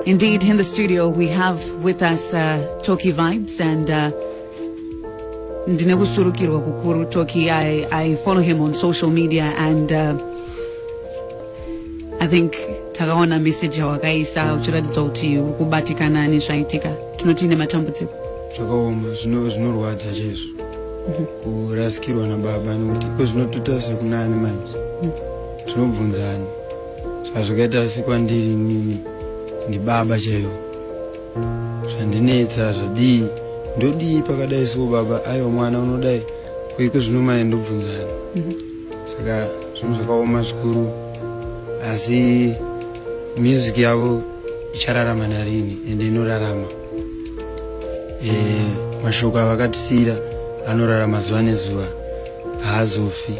Indeed, in the studio we have with us uh, Toki Vibes and uh, ndine kusurukirwa kukuru Toki. I, I follow him on social media and uh, I think takaona message yawakaisa uchiratidza kuti uri kubatikana nezvaitika tinoti ine matambudziko zvakaoma zvinorwadza chaizvo mhm. kurasikirwa nababa nekuti ko zvinotuta sekunani manje mhm. tinobvunzani saka zvakaita asi kwandiri nini ndibaba chaivo zvandinetsa zvadii ndodii pakadai soo baba aiwa mwana unodai koiko zvinomaya ndobvunzani mhm. saka zvinhu zvakaoma zvikuru asi music yavo ichararama narini ende inorarama e, mashoko avakatisiyira anorarama zuva nezuva haazofi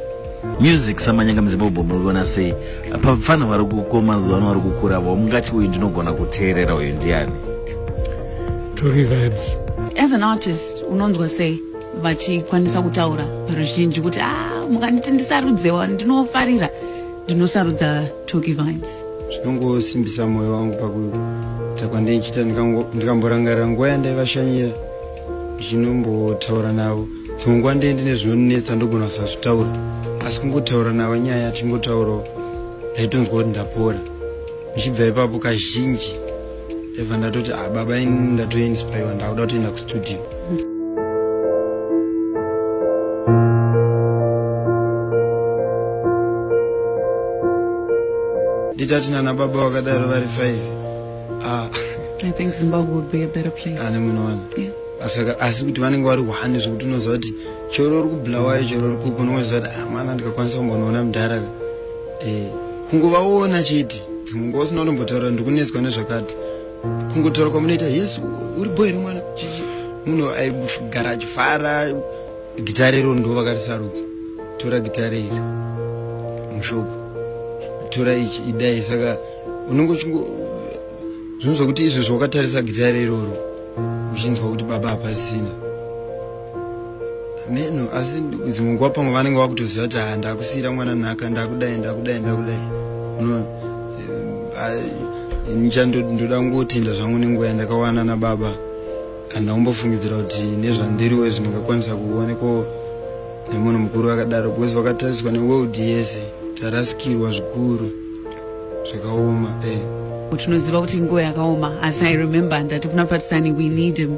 music samanyanga muzimbabwe muiona sei pafana vari kuko mazuva ano vari kukura vo mungati uyu ndinogona kuteerera uyu ndiani tori vibes as an artist unonzwa sei vachikwanisa kutaura ruzhinji kuti ah, mukanditi ndisarudzewa ndinofarira ndinosarudza toki vibes zvinongosimbisa mwoyo wangu pakuita kwandichiita ndikamborangarira nguva yandaivashanyira zvinombotaura navo dzimwe nguva ndee ndine zvinonetsa ndogona kusazvitaura asi kungotaura navo nyaya tichingotaurawo ndaitonzwa kuti ndapora ndichibva ipapo kazhinji eva ndatoti ah, baba ini ndatoinspaiwa ndakuda kutoenda kustudio nditati nana baba vakadaro vari five ah. i think zimbabwe would be a better place ane munoona yeah asaka asi kuti vanenge vari one zvekuti unoziva kuti chero uri kubulawayo chero uri kupi unoziva kuti ah, mwana ndikakwanisa kumbonoona mudhara ka eh, kungova woona chete dzimwe nguva usina unombotaura ndikunetswa nezvakati kungotaura kwamunoita yes uri boy remwana chichi munhu aigara achifara gitare iro ndo vakarisarudza tora gitare iri mushopo tora ichi idai saka unenge uchingo zvinonzwa kuti izvo zvawakatarisa gitare iroro uchinzwa kuti baba hapasina meno asi dzimwe nguva pamwe vanenge vakutoziva kuti haa ndakusiyira mwana nhaka ndakudai ndakudai ndakudai unoona eh, ncha ndoda kungotenda zvangu nenguva yandakawana nababa handina kumbofungidzira kuti nezvandiriwe zvindingakwanisa kuonekwa nemunhu mukuru vakadaro because vakatariswa neworld yese tarasikirwa zvikuru zvakaoma eh. tinoziva kuti nguva yakaoma asi i remember ndati kuna patisani we need him